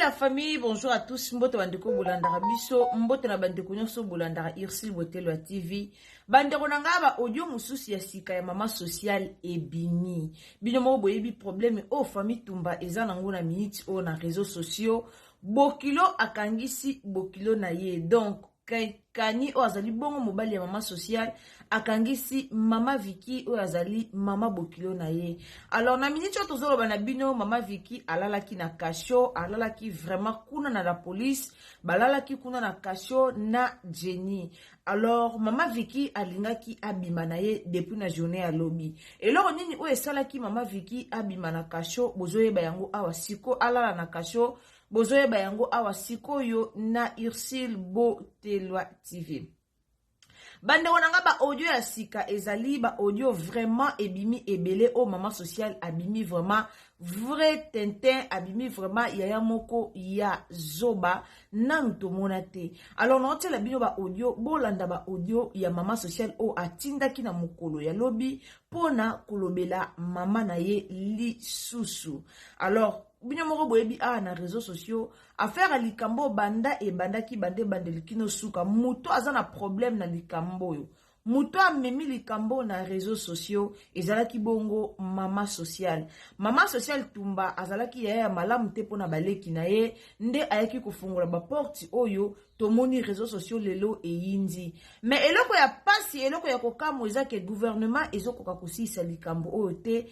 la famille bonjour à tous mbote bandeko bolandaka biso mbote na bandeko nyonso bolandaka ursile botelo ya tv bandeko na ngai baaudio mosusu ya sika ya mama sociale ebimi bino moko boyebi probleme oyo famille tumba eza nango na miniti oyo na réseau sociaux bokilo akangisi bokilo na ye donc kani oyo azali bongo mobali ya mama sociale akangisi mama viki oyo azali mama bokilo na ye alors na miniti oyo tozoloba na bino mama viki alalaki na kasho alalaki vraiment kuna na la police balalaki kuna na kasho na jenny alors mama viki alingaki abima na ye depuis na journée ya lobi eloko nini oyo esalaki mama viki abima na kasho bozoyeba yango awa siko alala na kasho bozoyeba yango awa sikoyo na ursule botelwa tv bandeko na ngai baaudio ya sika ezali baaudio vraiment ebimi ebele oyo mama social abimi vraiment vrai tintin abimi vraiment yaya moko ya zoba nanu tomona te alors naotiela bino baaudio bolanda baaudio ya mama sociale oyo atindaki na mokolo ya lobi mpo na kolobela mama na ye lisusu alors bino moko boyebi awa na réseau sociaux affaire ya likambo oyo banda ebandaki banda ebandeli kino suka moto aza na problème na likambo oyo Moto amemi likambo oyo na reseaux sociaux ezalaki bongo mama social. Mama social Tumba azalaki yaya ya malamu te mpo na baleki na ye, nde ayaki kofongola ba porte oyo tomoni reseaux sociaux lelo eyindi. Mais eloko ya pasi, eloko ya kokamwa eza ke gouvernement ezokoka kosilisa likambo oyo te,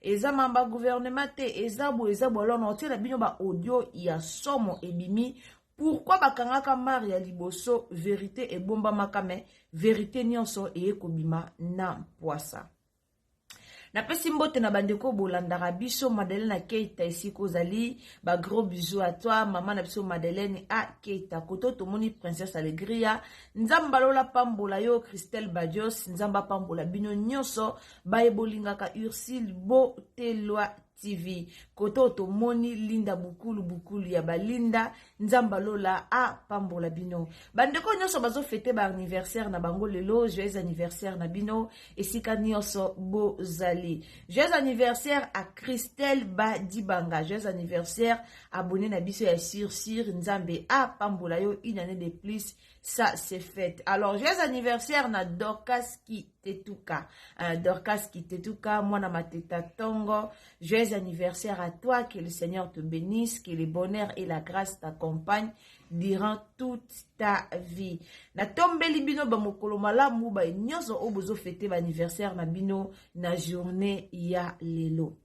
eza mamba gouvernement te eza boye eza boye alors na otiela bino ba audio ya somo ebimi pourkui bakangaka mare ya liboso verite ebombamaka me verite nyonso eye kobima na mpwasa napesi mbote na bandeko bolandaka biso madeleine akeita esika ozali bagros bisou a toi mama na biso madeleine akeita koto tomoni princesse alegria nzambe alola pambola yo christelle badios nzambe apambola bino nyonso baye bolingaka ursile botelwa tv kote oyo tomoni linda bukulu bukulu ya balinda nzamba lola apambola bino bandeko nyonso bazofete baanniversaire na bango lelo joyeux anniversaire na bino esika nyonso bozali joyeux anniversaire a christelle badibanga joyeux anniversaire abone na biso ya sursur nzambe apambola yo une année de plus ça c'est fête alors joyeux anniversaire na dorcas ki Tetuka. Euh, Dorcas Kitetuka, Mwana Mateta Tongo, joyeux anniversaire à toi, que le Seigneur te bénisse, que le bonheur et la grâce t'accompagnent durant toute ta vie. Na tombeli bino ba mokolo malamu ba nyoso oyo bozo fete ba anniversaire na bino na journée ya lelo.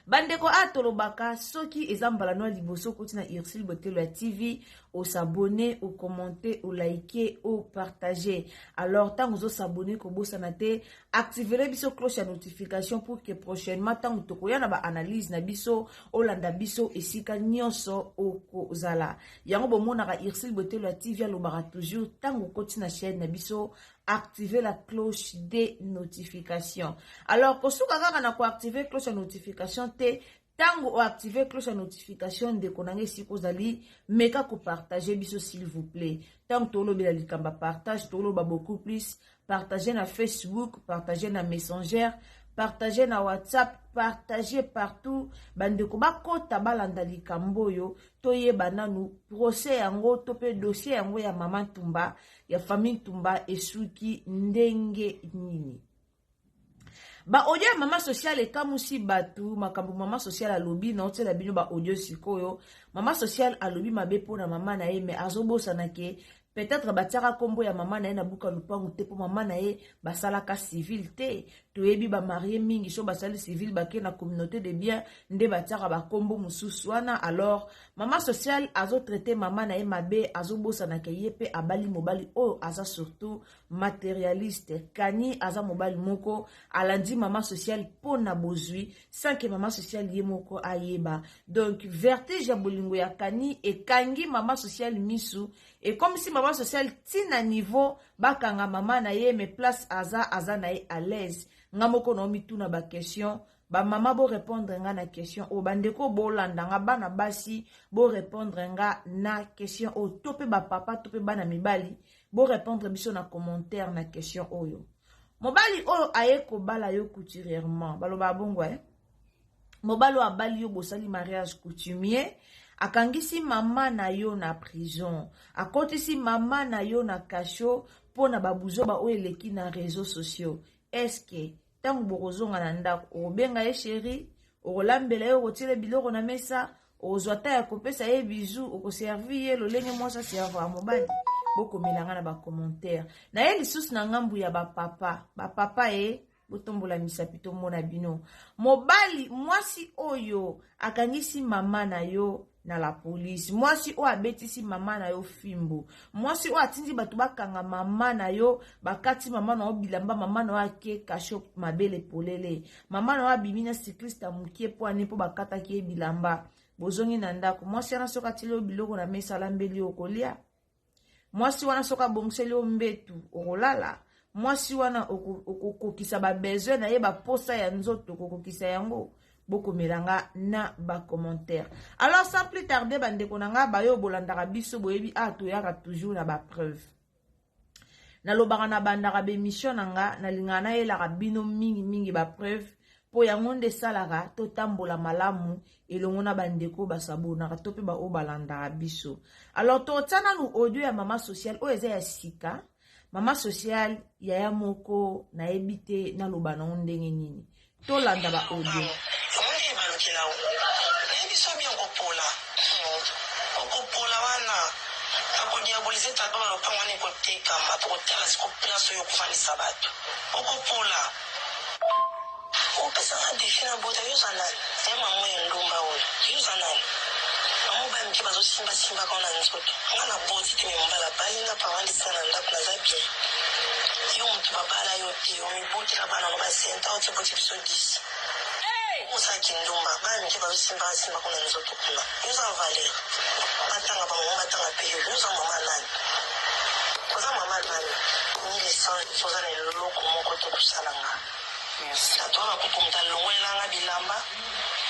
bandeko a tolobaka soki eza mbala no ya liboso okoti na ursule botelo ya tv osabone okommente olaike opartage alors ntango ozosabone kobosana te activele biso cloche ya notification pour que prochainement ntango tokoya na baanalyse na biso olanda biso esika nyonso okozala yango bomonaka ursule botelo ya tv alobaka toujours ntango okoti na chaîne na biso activer la cloche de notification alors kosuka kaka na koactiver cloche ya notification te ntango oactive cloche ya notification ndeko na ngai esika ozali meka kopartage biso s'il vous plaît ntango tolobela likambo ya partage toloba beaucoup plus partage na facebook partage na messenger partage na whatsapp partage partout bandeko bakota balanda likambo oyo toyeba nanu procès yango to mpe dossier yango ya mama ntumba ya famille ntumba esuki ndenge nini baaudio ya mama sociale ekamusi bato makambo mama sociale alobi naotyela bino baaudio sikoyo mama sociale alobi mabe mpo na mama na ye me azobosana ke peut-être batiaka nkombo ya mama na ye na buka lupangu te mpo mama na ye basalaka civile te toyebi bamarie mingi so basali civile bake na communauté de bien nde batiaka bankombo mosusu wana alors Mama social azo traite mama na ye mabe azobosana ke ye mpe abali mobali oyo aza surtout materialiste kani aza mobali moko alandi mama social mpo na bozwi sans ke mama social ye moko ayeba donc vertige ya bolingo ya kani ekangi mama social misu ekomisi mama social ti na niveau bakanga mama na ye me place aza aza na ye à l'aise nga moko naomituna baquestion ba mama bo répondre nga na question oyo bandeko bolanda nga bana basi bo répondre nga na question oyo to mpe bapapa to mpe bana mibali bo répondre biso na commentaire na question oyo mobali oyo aye kobala yo couturièrement baloba bongo eh? mobali oyo abali yo bosali mariage coutumier akangisi mama na yo na prison akotisi mama na yo na kasho mpo na babuzoba oyo eleki na réseau sociaux eske ntango bokozonga na ndako okobenga ye sheri okolambela ye okotiele biloko na mesa okozwa ta ya kopesa ye bizu okoservi ye lolenge mwasi aservaka mobali bokomela nga na bacommentaire na ye lisusu na ngambu ya bapapa bapapa ye eh. botombola misapi tomona bino mobali mwasi oyo akangisi mama na yo na la police mwasi oyo abetisi mama na yo fimbo mwasi oyo atindi bato bakanga mama na yo bakati mama na yo bilamba mama na yo ake kasho mabele polele mama na yo abimi na cycliste mokie mpo ane mpo bakataki ye bilamba bozongi na ndako mwasi wana soki atili yo biloko na mesa alambeli yo okolia mwasi wana soki abongiseli yo mbetu okolala mwasi wana okokokisa babesoin na ye baposa ya nzoto okokokisa yango bokomela nga na bacommentaire alors sans plus tarde bandeko na nga bayo bolandaka biso boyebi a ah, toyaka toujours na bapreuve nalobaka na bandaka bemission na nga nalingaka nayelaka bino mingimingi bapreuve mpo yango nde esalaka totambola malamu elongo na bandeko basabonaka to mpe baoyo balandaka biso alors totya nanu audio ya mama sociale oyo eza ya sika mama sociale yaya moko nayebi te naloba nango ndenge nini tolanda ba audio akodiabolise tata na lopango wana ekotekama po kotala siko place oyo okofandisa bato okopola Opesa nga defi na bota yo oza nani eh mamu ya ndumba oyo yo oza nani mamu bana mike bazo simba simba ka na nzoto nga na boti te me mobali abali nga papa ndisi nga na ndako naza bien yo mutu babala yo te omibotela bana no basenta oti boti biso 10 oza kindumba bana mike bazo simba ka simba ko na nzoto kuna yo oza valeur batanga bango batanga pe yo yo oza mama nani oza mama nani 1100 oza na eloko moko te kosala nga Nato na kokumuta longolela nga bilamba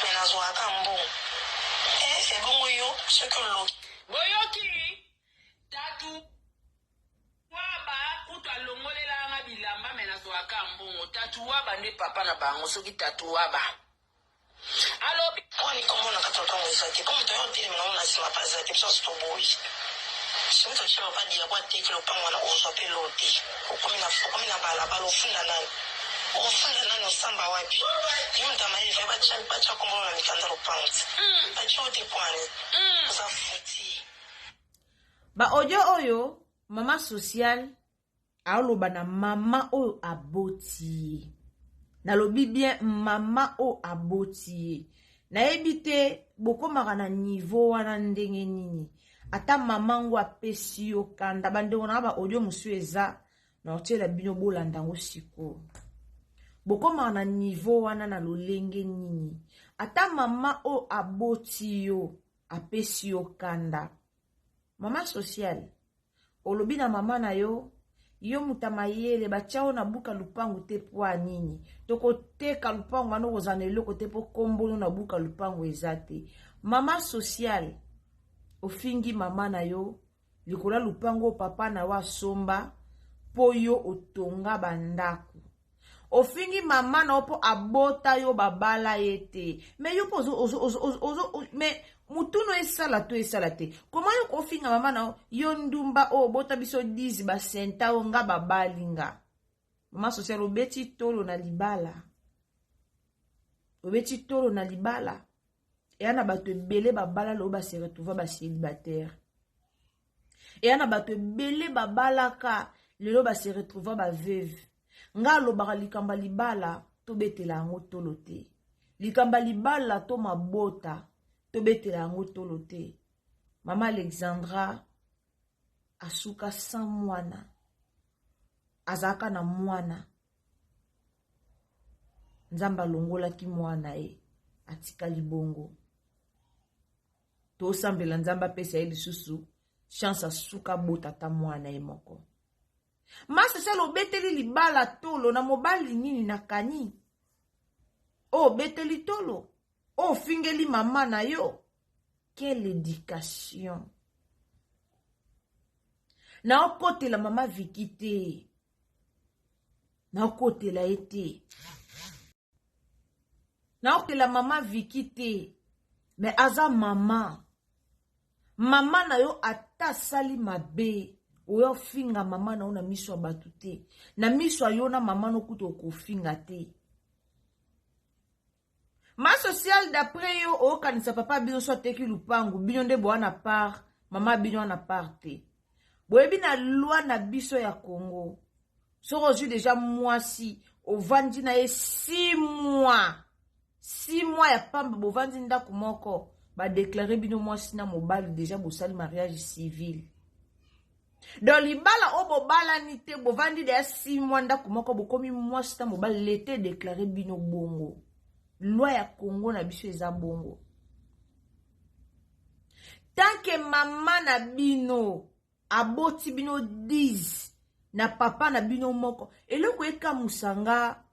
mais nazwaka ka mbongo eh ebongo yo soki oloki boyoki tatu waba kutu alongolela nga bilamba mais nazwaka ka mbongo tatu waba nde papa na bango soki tatu waba Alobi. Boni, komona kati lopango eza te? Po moto aya otelemi na ngo na sima pe aza te, biso nionso toboyi. Soki moto atie papa Diago ateki lopango wana, okozwa pe lor te. Okomi na, okomi na bala bala, ofunda nani? Okofunda nani? Osamba wapi? Yo moto ya mayele, fallait batia, batia kombo na yo na mikanda lopango ti batie yo te pwani? Oza fou ti. Ba audio oyo maman sociale aloba na mama oyo aboti ye nalobi bien mama oyo aboti ye nayebi te bokomaka na nivo wana ndenge nini ata mama ngo apesi yo kanda bandeko na ba audio mosusu eza na otyela bino bolanda yango sikoyo bokomaka na nivo wana na lolenge nini ata mama oyo aboti yo apesi yo kanda mama sociale olobi na mama na yo yo muta mayele batya yo na buka lupangu te pwa nini tokoteka lupangu wana okozala na eloko te mpo kombolo na buka lupangu eza te mama sociale ofingi mama na yo likolo ya lupangu oyo papa na yo asomba mpo yo otonga bandako ofingi mama na yo mpo abota yo babala ye te me yo mpo me mutunu esala to esala te koma yo kofinga mama na yo yo ndumba oyo obota biso 10 basenta oyo nga babali nga mama social obeti tolo na libala obeti tolo na libala eya na bato ebele babala loyo baseretrouva basilibataire eya na bato ebele babalaka lelo base retrouva baveuve ngai alobaka likambo ya libala tobetela yango tolo te likambo ya libala to mabota tobetela yango tolo te mama alexandra asuka san mwana azalaka na mwana nzambe alongolaki mwana ye atikali bongo tosambela nzambe apesa ye lisusu chance asuka abota ata mwana ye moko masesele obeteli libala tolo na mobali nini nakani obeteli tolo ofingeli mama na yo quelle éducation naokotela mama viki te naokotela ye te naokela mama viki te me aza mama mama na yo ata asali mabe oya ofinga mama na yo na miso ya bato te na miso ya yo na mama no kutu okofinga te ma sociale d'après yo okanisa papa bino so ateki lupangu bino nde boa na part mama bino ana part te boyebi na loi na biso ya congo soki ozwi deja mwasi ovandi na ye si mwa si mwa ya pamba bovandi ndako moko badeklare bino mwasi na mobali deja bosali mariage civil don libala oyo bobalani te bovandi deya si mwa ndako moko bokomi mwasi na mobali leta edeklare bino bongo lwa ya kongo na biso eza bongo tanke mama na bino aboti bino 10 na papa na bino moko eloko ekamusa nga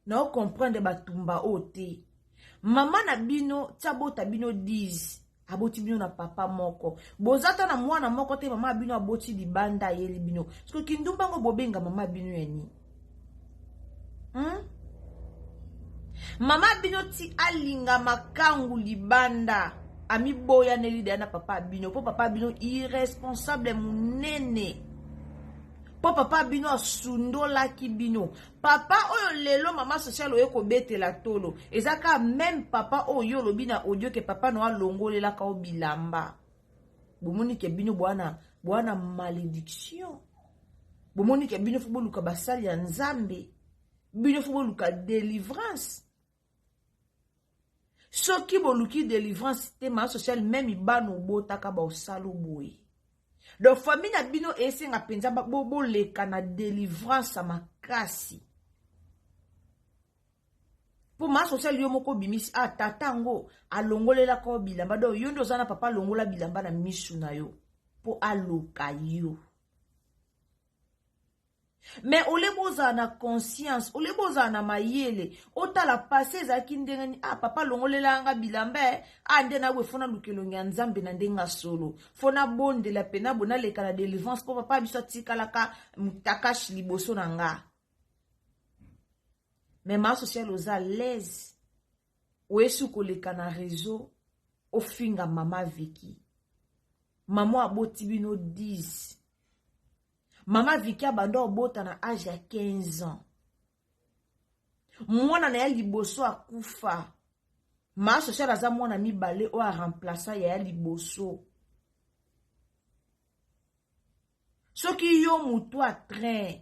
na ocomprendre batumba oyo te mama na bino ti abota bino 10 aboti bino na papa moko boza ata na mwana moko te mama ya bino aboti libanda ayeli bino soki kindumba yango bobenga mama ya bino ya nini hmm? mama bino ti alinga makangu libanda amiboyaneli deya na papa bino mpo papa bino irresponsable monene mpo papa bino asundolaki bino papa oyo lelo mama sociale oye kobetela tolo eza kaka meme papa oyo yo olobi na audio ke papa no alongolelaka o bilamba bomoni ke bino bwana bwana malédiction bomoni ke bino fo boluka basali ya nzambe bino fo boluka délivrance soki boluki délivrance te ma sociale meme bana obotaka baosala boye donc famille na bino esenga mpenza boleka na délivrance makasi mpo ma social yo moko obimisi a ah, tata yango alongolelaka yo bilamba donc yo nde oza na papa alongola bilamba na misu na yo mpo aloka yo me ole bozala na conscience ole bozala na mayele otala pase ezalaki ndenge nini ah papa alongolelaka nga bilamba e ah nde nawe fo naluka elongi ya nzambe na ndenge ya solo fo nabondela mpe nabo naleka na delivrance mpo papa biso atikalaka mutakashi liboso na nga me ma social oza alaise oyesi koleka na réseau ofinga mama viki mama aboti bino 10 mama viki abanda obota na age ya 15 ans mwana na ya liboso akufa ma social aza mwana mibale oyo aremplaça ya ya liboso soki yo motu a train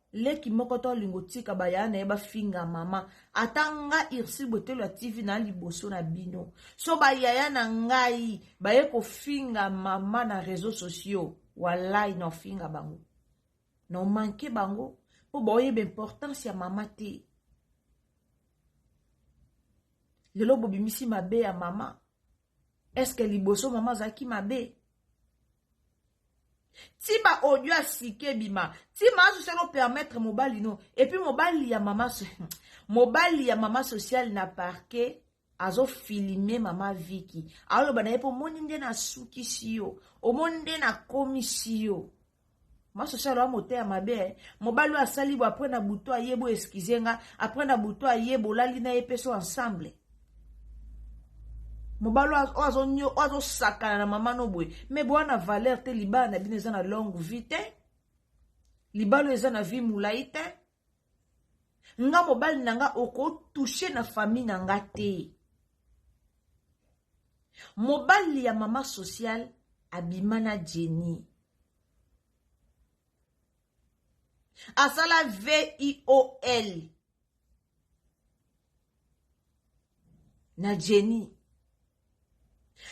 leki moko to olingo tika bayaya na ye bafinga mama ata nga ursil botelo ya tv na liboso na bino so bayaya na ngai baye kofinga mama na réseau sociaux walai na ofinga bango na omanke bango mpo baoyeba importance ya mama te lelo bobimisi mabe ya mama eske liboso mama azalaki mabe ti baaudio ya sika ebima ti maso selo permettre mobali no epuis mobali ya mama mobali ya mama sociale na parquet azofilime mama viki aloba na ye mpo omoni nde nasukisi yo omoni nde nakomisi yo masosalo ya moteya mabe eh. mobali oyo asali bo apres na butu aye bo eskize nga apres na butu aye bolali na ye mpe so ensemble mobali oyo azosakana na mama no boye me boa na valeur te libala na bino eza na longue vie te libala oyo eza na vie molai te nga mobali na nga okotouche na famille na nga te mobali ya mama sociale abima na jeni asala viol na jeni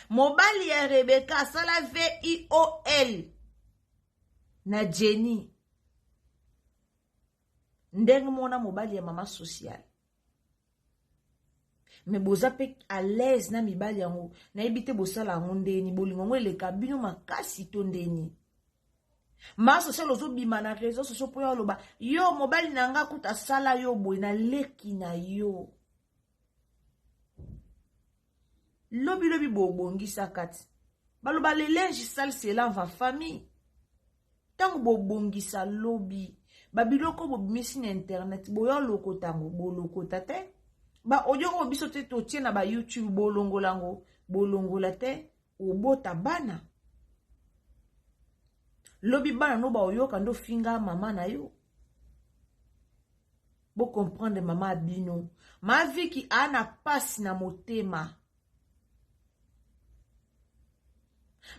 mobali ya rebeka asala viol na jeni ndenge mona mobali ya mama sociale me boza mpe alaise na mibali yango nayebi te bosala yango ndeni bolingo yango eleka bino makasi to ndeni ma social ozobima na réseau social mpo ya oloba yo mobali na nga kuta asala yo boye na leki na yo lobilobi bobongisa kati baloba le linge sale se lave en famille ntango bobongisa lobi babiloko bobimisi na internet boya olokota yango bolokota te baaudio yango biso te totie na bayoutube bolongola yango bolongola te obota bana lobi bana no baoyoka nde ofinga mama na yo Bo comprendre mama bino. Ma Vicky ana pasi na motema.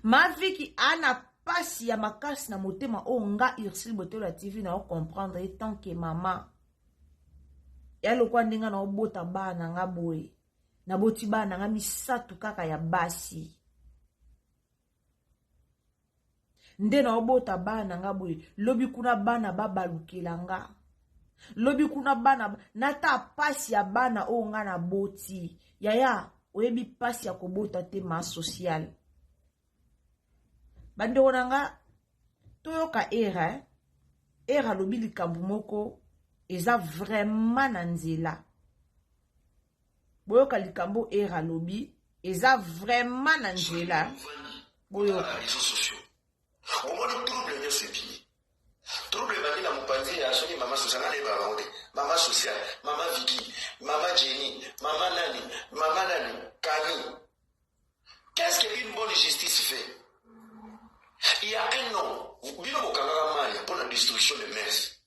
Ma Vicky ana pasi ya makasi na motema oyo nga Ursule Botola TV na o comprendre ye tant que mama. Ya lokwa ndenge na obota bana nga boye. Naboti bana nga misatu kaka ya basi. nde naobota bana na nga boye lobi kuna bana babalukela nga lobi kuna bana nata pasi ya bana oyo nga na boti yaya oyebi pasi ya kobota te ma sociale bandeko na nga toyoka era eh? era alobi likambo moko eza vraiment na nzela boyoka likambo era alobi eza vraiment na nzela boyoka omoni trouble nyonso ebimi trouble ebandi na mopanzi ya soki mama social nani ayebaka bango te mama social mama viki mama jeni mama nani mama nani kani qu'est ce que une bonne justice fait il y a un nom bino bokangaka maya mpo na destruction de mers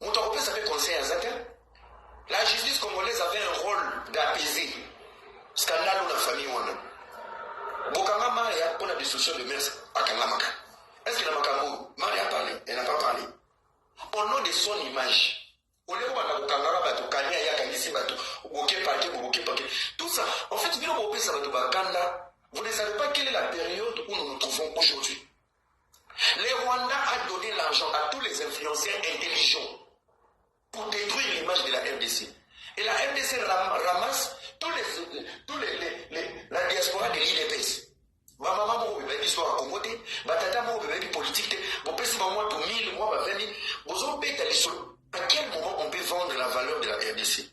Moto akopesa pe conseil aza te. La justice congolaise avait un rôle d'apaiser scandale ou la famille wana. Bokanga Maria pour la destruction de mers akangamaka. Est-ce que na makambo Maria a parlé? Elle n'a pas parlé. Au nom de son image. Au lieu kobanda kokangaka bato kani aye akangisi bato boke pake boboke pake tout ça en fait bino bopesa bato bakanda vous ne savez pas quelle est la période où nous nous trouvons aujourd'hui Le Rwanda a donne l'argent à tous les influenceurs intelligents pour détruire l'image de la RDC. Et la RDC ramasse tous les, tous les, les, les la diaspora de l'IDPS. bamama moko bebaki histoire ya congo te batata moko bebaki politique te bopesi bango to 1000 mwa ba 20 000 bozobeta lisolo à quel moment on peut vendre la valeur de la rdc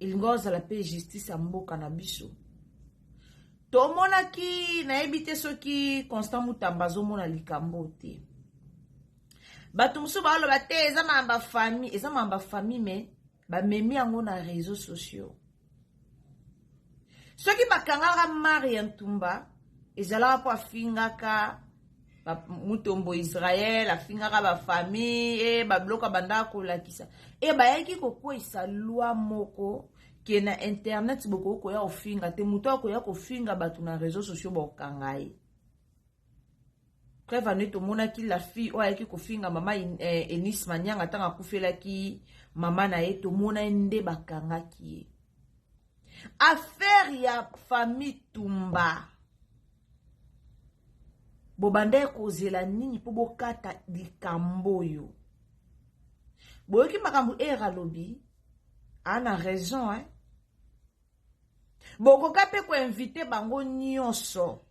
elinga ozala mpe justice ya mboka na biso tomonaki nayebi te soki constant mutamba azomona likambo te bato mosusu baoloba te eza mamba famille eza mamba famille me bamemi yango na réseau sociaux soki bakangaka maria ntumba ezalaka mpo afingaka mutombo israel afingaka bafamille e eh, babiloko abandaka kolakisa e bayaki kokweyisa lwa moko ke na internet bokoki koya kofinga te moto akoya kofinga bato na réseau sociaux bokanga ye preuve anu tomonaki la fille oyo ayaki kofinga mama eh, enis manianga ntango akufelaki mama na ye tomona ye nde bakangaki ye affaire ya famille tumba bobanda ye kozela nini mpo bokata likambo oyo boyoki makambo ere alobi ana raison eh? bokoka mpe koinvite bango nyonso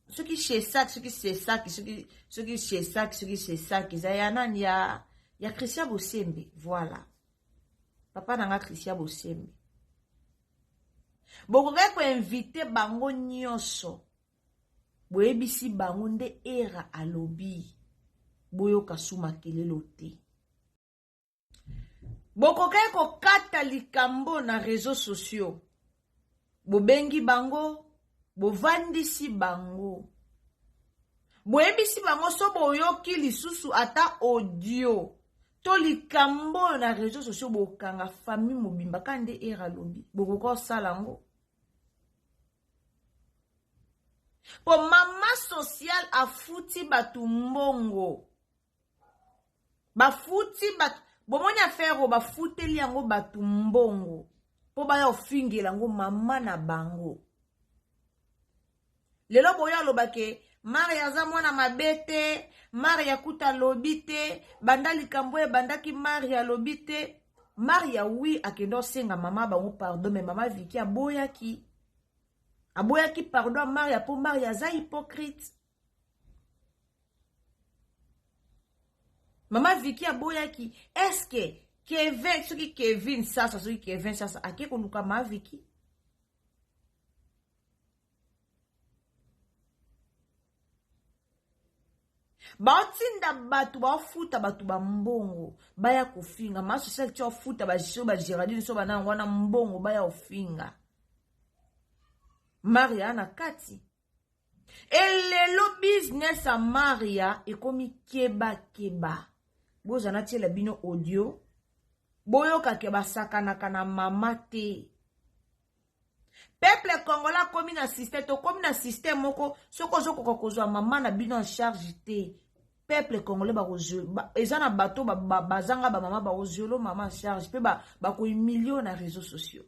soki chesak soki sesaki soki soki chesak soki sesaki eza ya nani ya ya christian bosembe voilà papa na nga christian bosembe bokokaki koinvite bango nyonso boyebisi bango nde era alobi boyoka su makelelo te bokokaki kokata likambo na reseau sociaux bobengi bango bovandisi bango boyebisi bango so boyoki lisusu ata audio to likambo oyo na reseau sociaux bokanga famille mobimba ka nde ere alobi bokoki kosala yango mpo mama social afuti bato mbongo bafuti bato bomoni affaire oyo bafuteli yango bato mbongo mpo baya ofingela yango mama na bango lelo boyo aloba ke maria aza mwana mabe te maria kuta alobi te banda likambo oyo ebandaki maria alobi te maria wi akende osenga mama bango pardon me mama viki aboyaki aboyaki pardon ya maria mpo maria aza hypocrite mama viki aboyaki eske kevin soki kevin sasa soki kevin sasa ake koluka ma viki baotinda bato baofuta bato bambongo baya kofinga ma sociale ti ofuta baso bageraldine so bana yango wana mbongo baya kofinga maria na kati e lelo business ya maria ekomi kebakeba boza natiela bino audio boyokake basakanaka na mama te peuple congolais akomi na système tokomi na système moko soki ozokoka kozwa mama na bino en charge te peuple congolais eza na bato bazanga bamama bakozwelo mama en charge mpe bakohumilio na réseau sociaux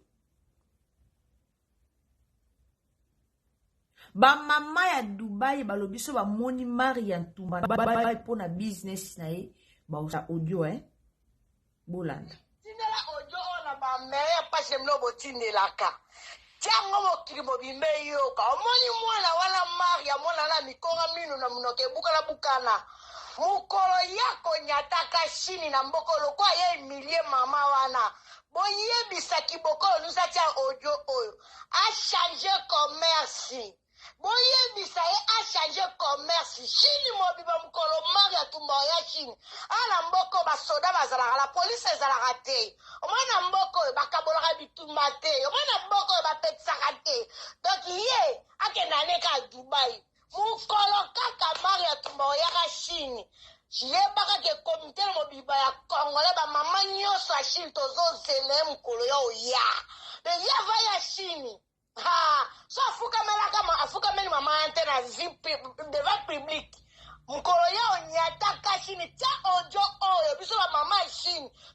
bamama ya dubai balobi so bamoni mari ya ntumba mpo na business na ye baosa audio e eh? bolanda tindela audio oyo na bamere ya mpasi ya bino botindelaka tiango mokili mobimba eyoka omoni mwana wana mari ya mwana na mikonga mino na monoko ebukana bukana mokolo ya konyataka shini na mbokolo kwa ye emilie mama wana Boyebisa kibokolo nous atia audio oyo a change commerce. Boyebisa ye a change commerce. Chine mobimba mokolo mari atumba oya Chine. Awa na mboka oyo basoda bazalaka, la police ezalaka te. Omoni na mboka oyo bakabolaka bitumba te. Omoni na mboka oyo bapetisaka te. Donc ye akenda ne kaka Dubai. Mukolo kaka Mario Atumba oyaka Chine, yebaka ke comite na mobiba ya congolais ba mama nyoso ya Chine tozo zela ye mukolo ya oya. Mais ye ava ya Chine. Ha, so afukamelaka ma afukameli mama ya te na vie pu- devant public. Mukolo ya onyataka Chine, tia audio oyo biso ba mama ya Chine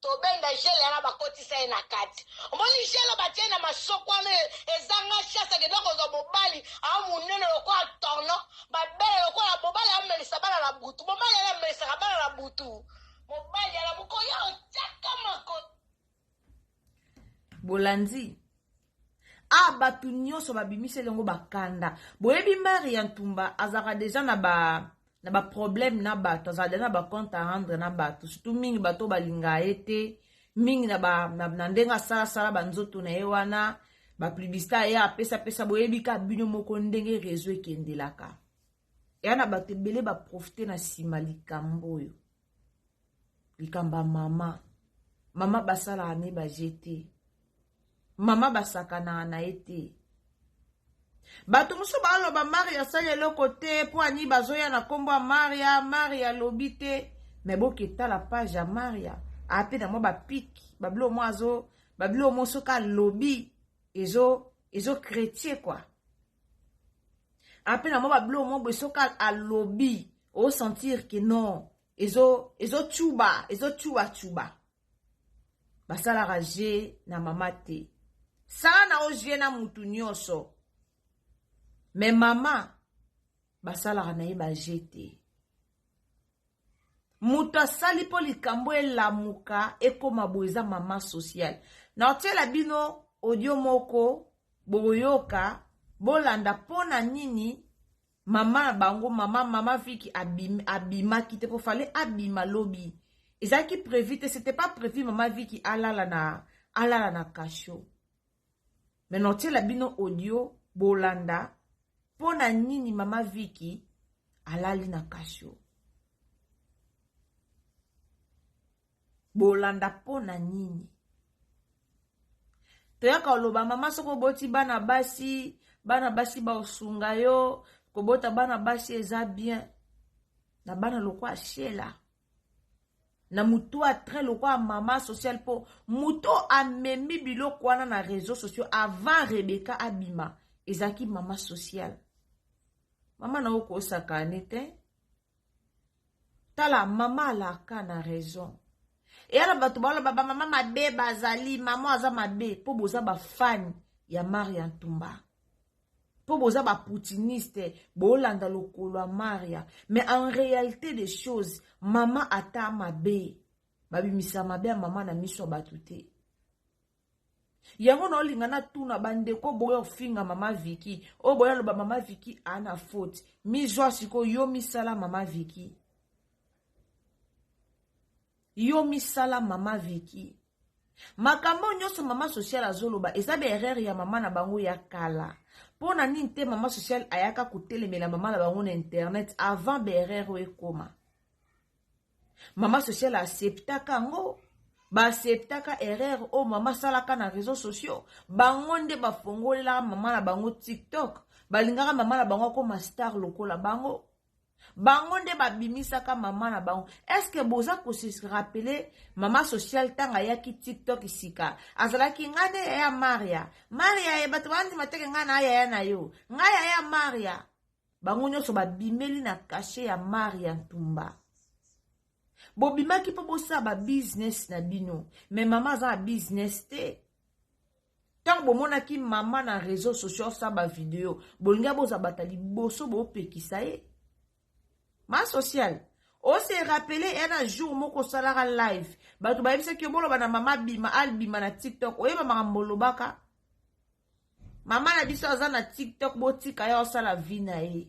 tobenda gel yana bakotisa ye na kati omoni gel oyo batie na masoko wana e- ezanga chance akenda kozwa mobali aa monene lokola torno babele lokola mobali amelisa bana na butu mobali yana amelisaka bana na butu mobali yana mokoya otyaka mako bolandi a ah, bato nyonso babimiseli yango bakanda boyebi mari ya ntumba azalaka deja na ba na baproblème na bato azalaka deja na bacompte à rendre na bato surtout mingi bato balinga ye te mingi na, ba, na, na ndenge asalasala banzoto na ye wana bapublicité aye apesapesa boyebi ka bino moko ndenge réseau ekendelaka eya na bato ebele baprofite na nsima likambo oyo likambo ya mama mama basalaka ne baje te mama basakanaka na ye te bato mosusu baloba maria asali eloko te mpo ani bazoya na nkombo ya maria maria alobi te me boketala page ya maria ape na mwa bapiki babilo mwa azo babilo mwa soki alobi ezo ezo kretie kua ape na mwa babiloko mwa boye soki alobi osentir ke non ezocuba ezocubacuba basalaka je na mama te sala na oje na mutu nyonso me mama basalaka na ye baje te moto asali mpo likambo elamuka ekoma boye eza mama sociale naotyela bino odio moko bokoyoka bolanda mpo na nini mama na bango mama mama viki abim, abimaki te mpo fale abima lobi ezalaki prévu te c'était pas prévu mama viki alala na alala na kasho mais naotiela bino audio bolanda mpo na nini mama viki alali na kasho bolanda mpo na nini toyaka oloba mama soki oboti bana basi bana basi baosunga yo kobota bana basi eza bien na bana lokwa shela na motu a train lokola mama social mpo moto amemi biloko wana na réseau sociaux avant rebeka abima ezalaki mama social mama na okosakane te tala mama alaka na raison eyana bato baoloba bamama mabe bazali mama aza mabe mpo boza bafani ya maria ntumba mpo boza baputiniste bolanda lokolo ya maria mais en réalité des choses mama ata mabe babimisa mabe ya mama na miso ya bato te yango naolinga natuna bandeko boya ofinga mama viki oyo boya loba mama viki ana faute mizwa sikoyo yo misala mama viki Yo misala mama Vicky. Makambo nyonso mama social azoloba eza ba erreur ya mama na bango ya kala. Mpo na nini te mama social ayaka kotelemela mama na bango na internet avant ba erreur oyo ekoma. Mama social acceptaka yango baacceptaka erreur oyo mama asalaka na réseau sociaux bango nde bafongolelaka mama na bango tiktok balingaka mama na bango akoma star lokola bango bango nde babimisaka mama na bango eske boza kose rapele mama social ntango ayaki tiktok sika azalaki ngai nde yaya maria maria ye bato bandima teke ngai na yaya na yo ngai yaya maria bango nyonso babimeli na kashe ya maria ntumba bobimaki mpo bosala babizness na bino me mama aza na bizness te ntango bomonaki mama na réseau sociaux asala bavideo bolingi aboza bata liboso bopekisa ye ma sociale ose rappele ena jour moko osalaka live bato bayebisaki yo boloba na mama bima albima na tiktok oyeba makambo olobaka mama na biso aza na tiktok botika ye osala vi na ye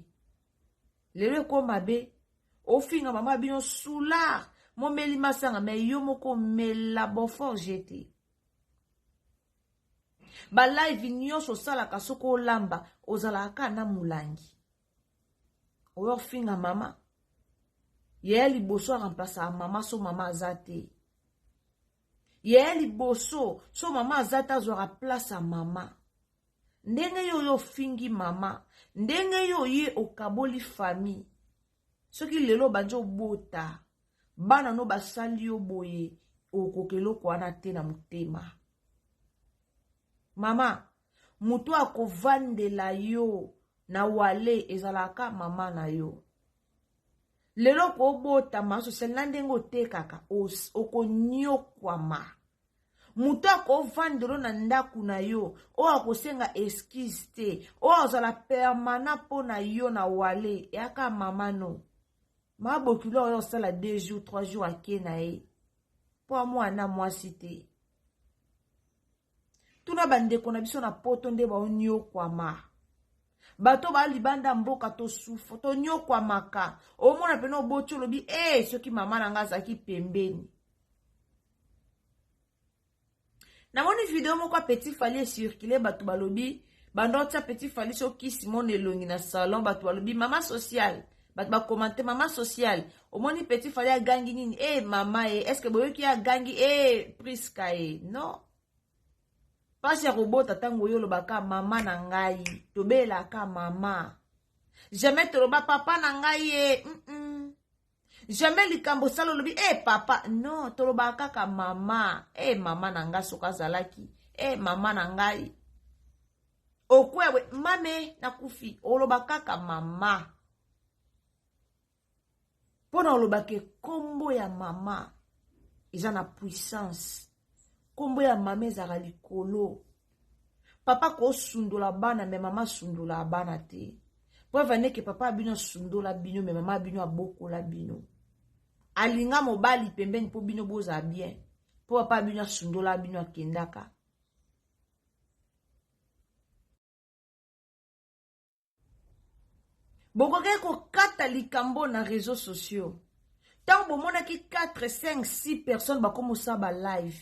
lelo eko mabe ofinga mama bino soulard momeli masanga me yo moko mela boforge te balive nyonso osalaka soki olamba ozalaka kaka na molangi oyo ofinga mama yaya liboso aremplasaka mama so mama aza te yaya liboso so mama aza te azwaka place ya mama ndenge yo oyo ofingi mama ndenge yo oye okaboli famille soki lelo obandi obota bana no basali yo boye okoka eloko wana te na motema mama moto akovandela yo na wale ezalaka mama na yo lelo kobotama sosele na ndenge otekaka okonyokwama moto akovandelo na ndako na yo oyo akosenga eskize te oyo azala permanent mpo na yo na wale yaka mamano ma bokilo oyo osala 2 jours 3 jours ake na ye mpo amwana mwasi te tuna bandeko na biso na poto nde baonyokwama bato baa libanda mboka tosufa tonyokwamaka omona mpena oboti olobi e eh, soki mama na ngai azalaki pembeni namoni video moko ya petit fali ecircule bato balobi banda otya petit fali so kisi mona elongi na salon bato balobi mama sociale bato bakomante mama sociale omoni petit fali agangi nini e eh, mama e eh, estce boyoki ye agangi e eh, priska e non mpasi ya kobota ntango oyo olobaka mama na ngai tobelaka mama jamais toloba papa na ngai ye mm -mm. jamais likambo sala olobi e hey, papa non tolobaka kaka mama e hey, mama na ngai soki azalaki e hey, mama na ngai okwewe mame nakufi oloba kaka mama mpo na olobaka nkombo ya mama eza na puissance nkombo ya mama ezalaka likolo papa kosundola bana me mama asundola bana te preuve aneke papa ya bino asundola bino me mama ya bino abokola bino alinga mobali pembeni mpo bino bozala bien mpo papa ya bino asundola bino akendaka bokokaki kokata likambo na réseau sociaux ntango bomonaki 4 5 6 personnes bakomosa balive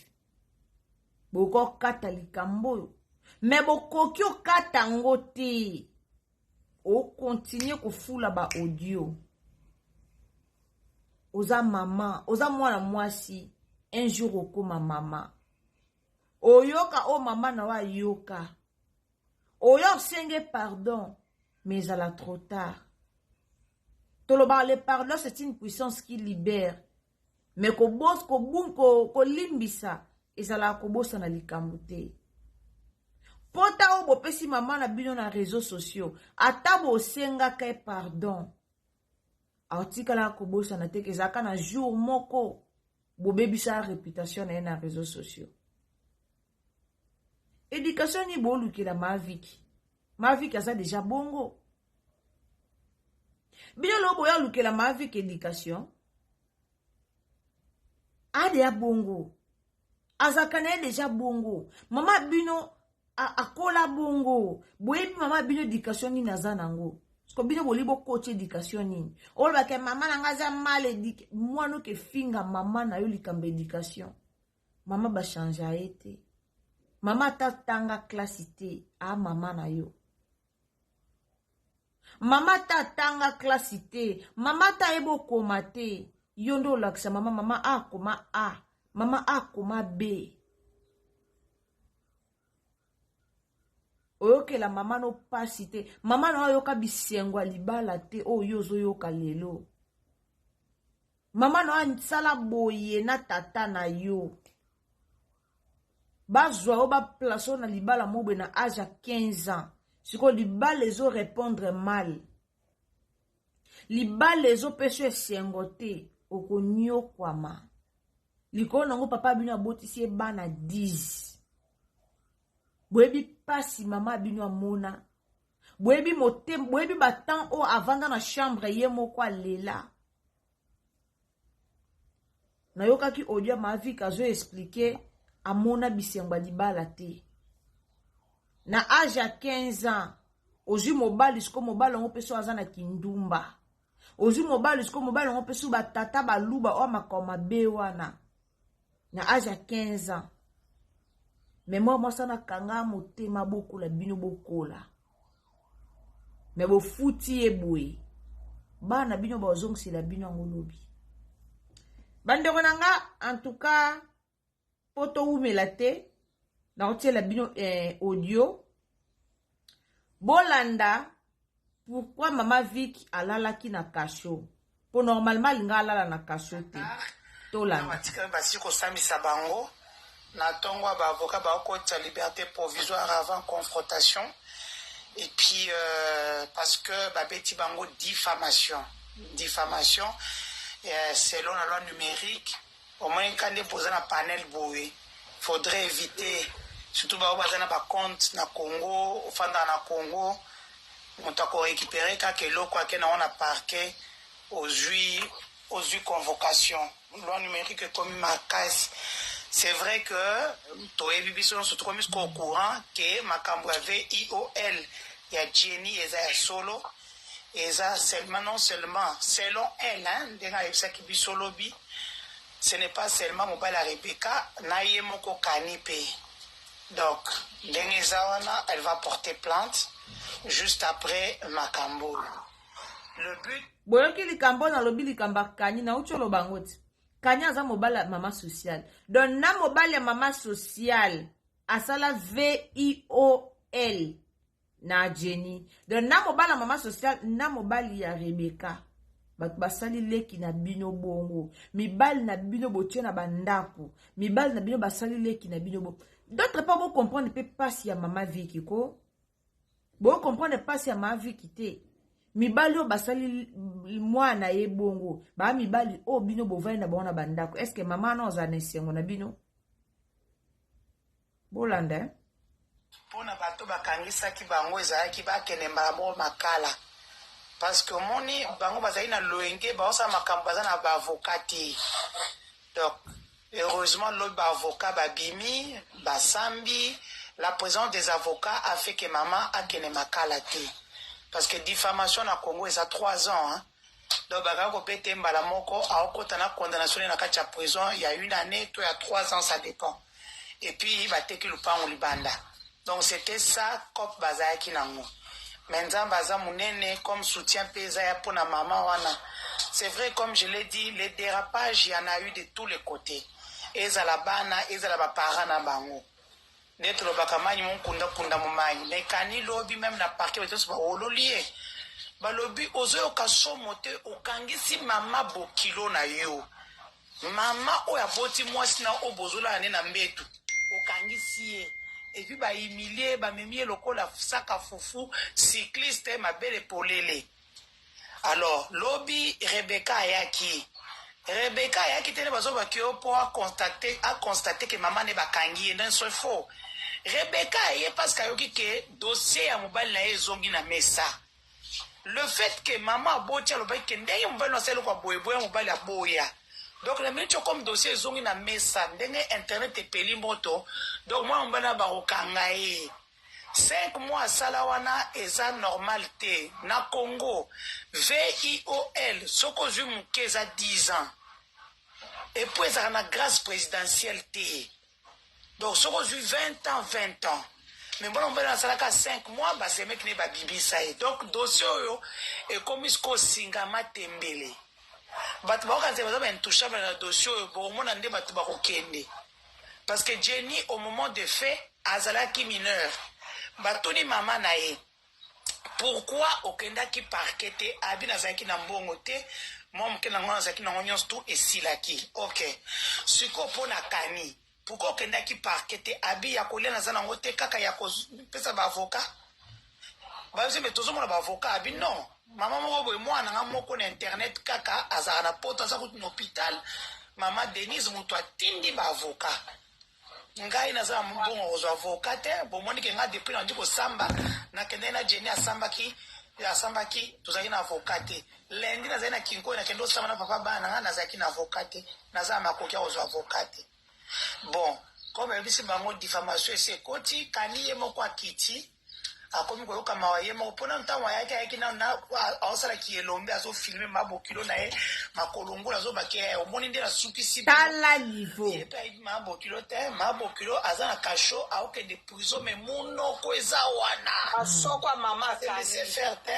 bokokata likambo oyo me bokoki okata yango te okontinue kofula baaudio oza mama oza mwana mwasi un jour okoma mama oyoka oyo mama na yo ayoka oya osenge pardon mais ezala trop tard tolobaka le pardon c'est une puissance qui libère mais kolimbisa ko, ko, ko ezalaka kobosana likambo te pota oyo bopesi mama na bino na réseau sociaux ata bosengaka ye pardon atikala kobosana te ezalaka na jour moko bobebisa reputation na ye na réseau sociaux éducation nini bolukela maviki maviki aza deja bongo bino loo boya olukela maviki éducation adeya bongo azalaka na ye deja bongo mama bino akola bongo boyebi mama bino edikation nini aza nango ko bino boli bokoti edikation nini olobake mama na ngai aza mal edike mwana oke finga mama na yo likambo edikation mama bachange ye te mama ata tanga klasi te a mama na yo mama ta atanga klasi te mama ta ayebi okoma te yo nde olakisa mama mama a akoma a mama a akoma b oyokela mama no mpasi te mama na oyoka bisengo ya libala te oyo yo ozoyoka lelo mama na yo asala boye na tata na yo bazwa yo baplace oyo na libala mobwe na age ya 15 ans sikoyo libala ezo repondre mal libala ezopesa yo esengo te okonyokwama likolo nango papa bino abotisi ye bana 10 boyebi mpasi mama bino amona boyebi boyebi batemp oyo avanda na chambre ye moko alela nayokaki audio ya mavik azo explike amona bisengo ya libala te na age ya 15 ans ozwi mobali siko mobali yango mpe so aza na kindumba ozwi mobali siko mobali yango mpe so batata baluba oyo makao mabe wana na age ya 15 ans memoire mwasi wana akanga motema bokola bino bokola me bofuti ye boye bana bino bazongisela bino yango lobi bandeko na nga antuka mpo towumela te nakotiela bino eh, audio bolanda pourquoi mama vic alalaki na kasho mpo normalement alinga alala na kasho te tolandabatikami basi kosambisa bango na ntongo ya baavoka bakokotisa liberté provisoire avant confrontation et puis euh, parce que babeti bango diffamation diffamation euh, selon la loi numérique Omoni ka nde poza na panel boye faudrait eviter surtout ba oyo baza na ba compte na Congo ofandaka na Congo moto ako recuperer kaka eloko ake nango na parquet ozui ozui convocation loi numerique ekomi makasi c'est vrai que toyebi biso nyonso tokomi au courant que makambo ya VIOL ya Jenny eza ya solo eza seulement non seulement selon elle hein, ndenge ayebisaki biso lobi ce n'est pas seulement mobali ya rebeka na ye moko kani mpe donc ndenge eza wana elle va porter plainte juste après makambo oyo le but boyoki likambo oyo nalobi likambo akani nauti oloba yango te kani aza mobali ya mama sociale donc na mobali ya mama sociale asala viol na jenny donc na mobala mama social na mobali ya rebeka bato basali leki na bino bongo mibali na bino botie na bandako mibali na bino basali leki na bino bongo d'autre part bocomprendre mpe mpasi ya mama viki ko bocomprendre mpasi ya mama viki te mibali oyo basali mwana na ye bongo baa mibali oyo bino bovandi na bango na bandako estce mama wana ozala na esengo na bino Bolanda eh. Mpo na bato bakangisaki bango ezalaki bakende mbala moko makala parce que omoni bango bazali na loyenge baosala makambo baza na baavoka te donc heureusement lobi baavoka babimi basambi la présence des avocats a fait que mama akende makala te parce que diffamation na congo eza 3 ans hein? Donc baka ko bete ye mbala moko aokota na condamnation ne na kati ya prison ya une année to ya trois ans ça dépend et puis bateki lupangu libanda donc c'était ça cop bazalaki nango mais nzambe aza munene comme soutien pe eza ya pona mama wana c'est vrai comme je l'ai dit les dérapages y en a eu de tous les côtés ezala bana ezala ba parents na bango Nde tolobaka manyi monkunda kunda momayi mais kani lobi meme na parquet bato nyonso bawololi ye balobi ozoyoka somo te okangisi mama bokilo na yo mama oyo aboti mwasi na oyo bozolala nde na mbetu okangisi ye epuis bahumilie bamemi ye lokola saka fufu cycliste mabele polele Alors lobi Rebecca ayaki Rebecca ayaki te nde bazobaki yo mpo aconstate aconstate ke mama ne bakangi ye nde ce faux Rebecca aye parce que ayoki ke dossier ya mobali na ye ezongi na mesa le fait que mama aboti alobaki ke ndenge mobali na asali kwa boye boya mobali aboya donc na minute comme dossier ezongi na mesa ndenge internet epeli moto donc mwana mobali na bakokanga ye Cinq mois asala wana eza normal te na congo VIOL soki ozui muke eza 10 ans epuis ezalaka na grace presidentielle te donc soki ozui 20 ans 20 ans me mwana mobali oyo asalaka 5 mois basemeki ne babibisa ye donc dossier oyo ekomi sikoyo singa matembele bato baokanisa baza baintouchable na dossier oyo bokomona nde bato bakokende parce que Jenny au moment de fait azalaki mineur batuni mama na ye pourquoi okendaki parquet te abi nazalaki na mbongo te mwa moke na ngai nazalaki nango nyonso tu esilaki ok sikoyo mpo na kani pourquoi okendaki parquet te abi ya kolia naza nango te kaka ya kopesa baavocat bayosi me tozomona baavoka abi non mama moko boye mwana nga moko na internet kaka azalaka na poto aza kutu na hôpital mama denise moto atindi baavoka ngai naza na mbongo kozwa avoka te bomoni ke ngai depuis nandi kosamba nakendaki na jeni asambaki asambaki tozalaki na avoka te lendi nazali na kinkoyo nakende osamba na papa bana na ngai nazalaki na avoka te naza na makoki ya kozwa avoka te bon comme ayebisi bango diffamation esi ekoti kani ye moko akiti akomi koyoka mawa ye moko mpona ntango ayaki ayaki nano na aosala kielombe azofilme ma bokilo na ye makolongula azobake ye omoni nde nasukisi tala niveau ye mpe ayebi ma bokilo te ma bokilo aza na kasho aokende prizo me munoko eza wana asokwa mama akanise fer te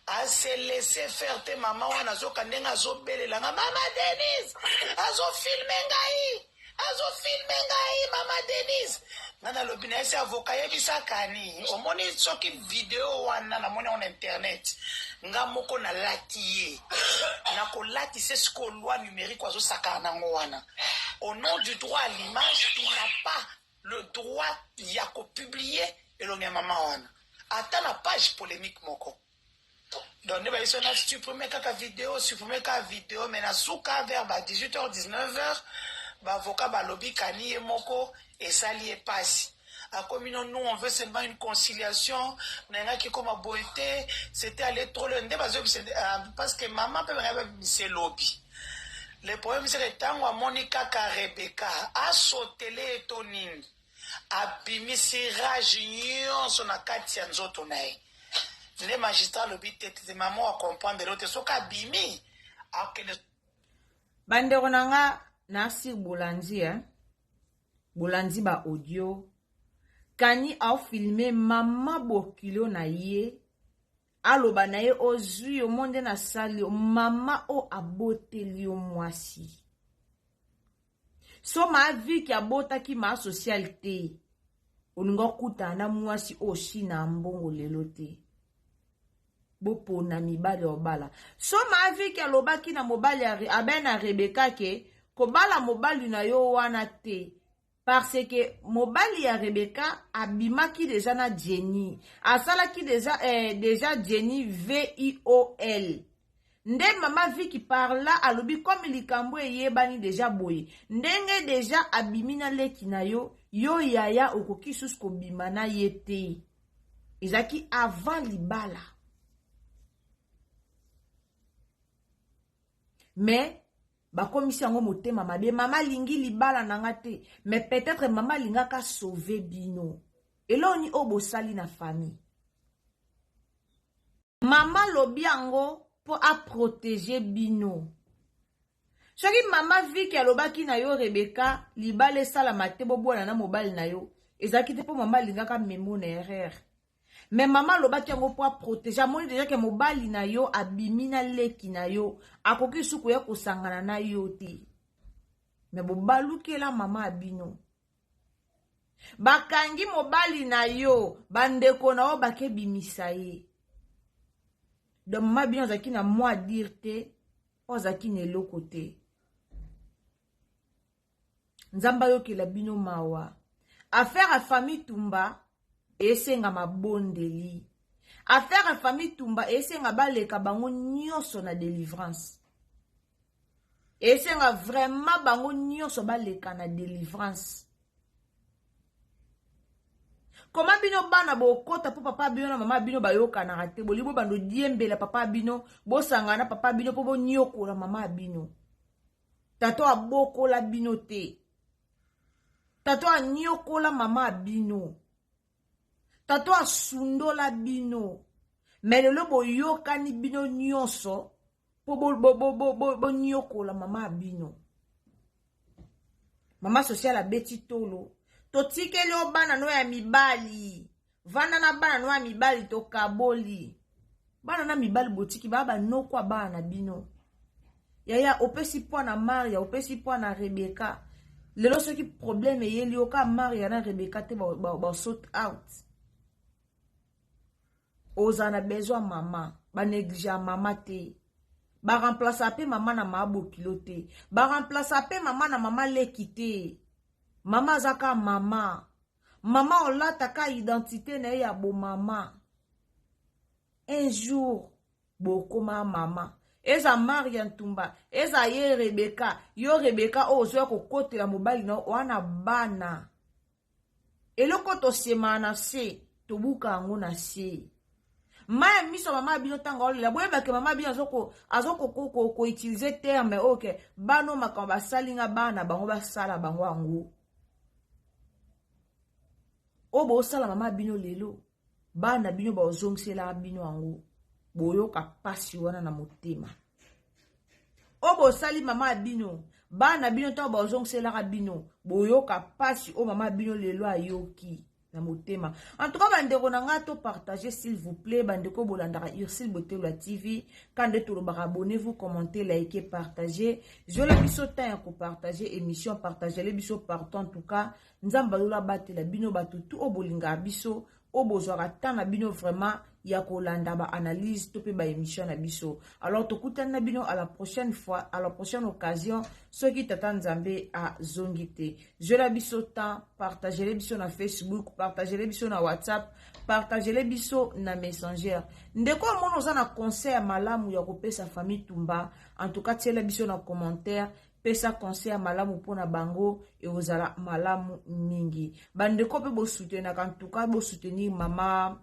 ase laisse faire te mama wana azoka ndenge azobelela nga mama denise azofilme ngai azo filme ngai mama denise nga nalobi na esi avoka yebisakani omoni soki video wana namoni yango na internet nga moko nalati ye nakolati se sikoyo loi numérique azosakana nango wana au nom du droit à l'image il n'a pas le droit ya kopublie elongi ya mama wana ata na page polémique moko donc nde bayeso na supprime kaka video supprime kaka video mais na suka vers ba 18 heures 19 heures baavocat balobi kani ye moko esali ye mpasi akomi no nous on veut seulement une conciliation nayangaki ekoma boye te c'était allé trop le nde bazoyebisa ah, parce que mama mpe bangaki babimisa elobi le problème seke ntango amoni kaka rebeka asotele ye to nini abimisi rage nyonso na kati ya nzoto na ye nde magistrat alobi te te mama akomprendre yo te soki abimi akende bandeko na nga na sir bolandi eh? bolandi ba audio kani aofilme mama bokilo na ye aloba na ye ozwi yo mo nde nasali yo mama oyo aboteli yo mwasi so ma viki abotaki ma social te olingi okutana na mwasi oyo shina ya mbongo lelo te bopona mibali ya obala so ma viki alobaki na mobali ya abena rebeka ke kobala mobali na yo wana te parce que mobali ya rebeka abimaki deja na jenny asalaki deja, eh, deja jenny viol Nde maman Vicky par là alobi comme likambu eyebani dejà boye ndenge dejà abimi na leki na yo yo yaya okoki susu kobima na ye te ezalaki avant libala mais bakomisi yango motema mabe mama alingi libala na nga te mais peut-être mama alingaka sauve bino eloni oyo bosali na famille mama lobi yango mpo aprotege bino soki mama viki alobaki na yo rebeka libala esalama te bobwana na mobali na yo ezalaki te mpo mama alingaka memo na erreur me mama alobaki yango mpo aprotege amoni deja ke mobali na yo abimi na leki na yo akoki lisusu koya kosangana na yo te me bobalukela mama ya bino bakangi mobali na yo bandeko na yo bakebimisa ye donc mama bino azalaki na mwa dire te oyo azalaki na eloko te nzambe ayokela bino mawa affaire ya famille tumba esenga mabondeli affaire ya famille tumba esenga baleka bango nyonso na delivrance esenga vraiment bango nyonso baleka na delivrance koma bino bana bokota mpo papa bino na mama bino bayokanaka te bolingi bobanda odiembela papa bino bosangana papa bino mpo bonyokola mama bino tato abokola bino te tato anyokola mama bino tato asundola bino me lelo boyokani bino nyonso po boniokola mama ya bino mama social abeti tolo totikeli yo bana no ya mibali vanda na bana no ya mibali tokaboli bana na mibali botiki baa banoko ya bana na bino yaya opesi mpo na maria opesi mpo na rebeka lelo soki probleme eyeli yo ka maria na rebeka te basot out ba, ba ozala na besoin ya mama baneglige ya mama te baremplace mpe mama na maa bokilo te baremplace mpe mama na mama leki te mama aza ka mama mama olata ka identité na ye ya bomama un jour bokoma mama eza maria ntumba eza ye rebeka yo rebeka oyo ozoya kokotela mobali na wana bana eloko tosemaa na se tobuka yango na se mai ya miso ya mama bino ntango aolela boyebake mama bino azokoutilize ko, ko, ko, terme oyo ke bano makambo basali nga bana bango basala bango yango oyo bosala mama bino lelo bana bino baozongiselaka bino yango boyoka mpasi wana na motema oyo bosali mama ya bino bana bino ntango baozongiselaka bino boyoka mpasi oyo mama ya bino lelo ayoki na motema en tout cas bandeko na ngai to partage s'il vous plaît bandeko bolandaka ursile botelwa tv kande tolobaka abonnez vous commente like partage zwela biso temps ya kopartage émission partagele biso partout en tout cas nzambe alola abatela bino bato tu oyo bolingaka biso oyo bozwaka temps na bino vraiment ya kolanda ba analyse to mpe ba émission na biso alors tokutani na bino à la prochaine fois à la prochaine occasion soki tata nzambe azongi te zwela biso temps partagele biso na facebook partagele biso na whatsapp partagele biso na messenger ndeko omona oza na conseil ya malamu ya kopesa famille tumba en tout cas tiela biso na commentaire pesa conseil ya malamu mpo na bango ekozala malamu mingi bandeko mpe bosutenaka ntuka bosoutenir mama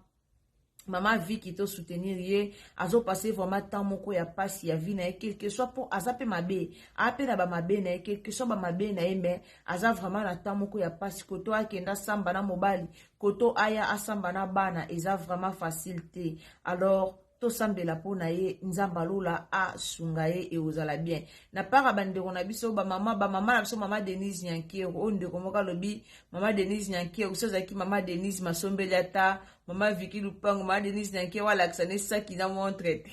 mama viki to soutenir ye azopase vraiment temps moko ya mpasi ya vie na ye quelque soit mpo aza mpe mabe aa mpe na bamabe na ye quelque soit bamabe na ye mai aza vraiment na temps moko ya mpasi koto akenda asamba na mobali koto aya asamba na bana eza vraiment facile te alors tosambela mpo na ye nzambe alola asunga ye ekozala bien na part ya bandeko na biso bamama bamama na biso mama denise nyankero oyo ndeko moko alobi mama denise nyankero so azalaki mama denise masombeli ata mama viki lupango mama denise nyankero alakisa ne saki na montre te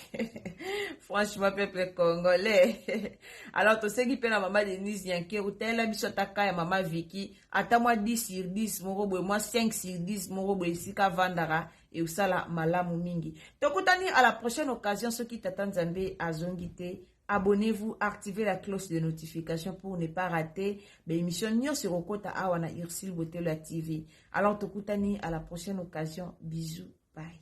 franchement peuple congolais alors toseki mpe na mama denise nyankero talela biso ata ka ya mama viki ata mwa 10 sur 10 moko boye mwa 5 sur 10 moko boye esika avandaka eosala malamu mingi tokutani à la prochaine occasion soki tata nzambe azongi te abonnez-vous activez la cloche de notification pour ne pas rater baémission nyonso ekokota awa na ursile botelo ya tv alors tokutani à la prochaine occasion bisous bye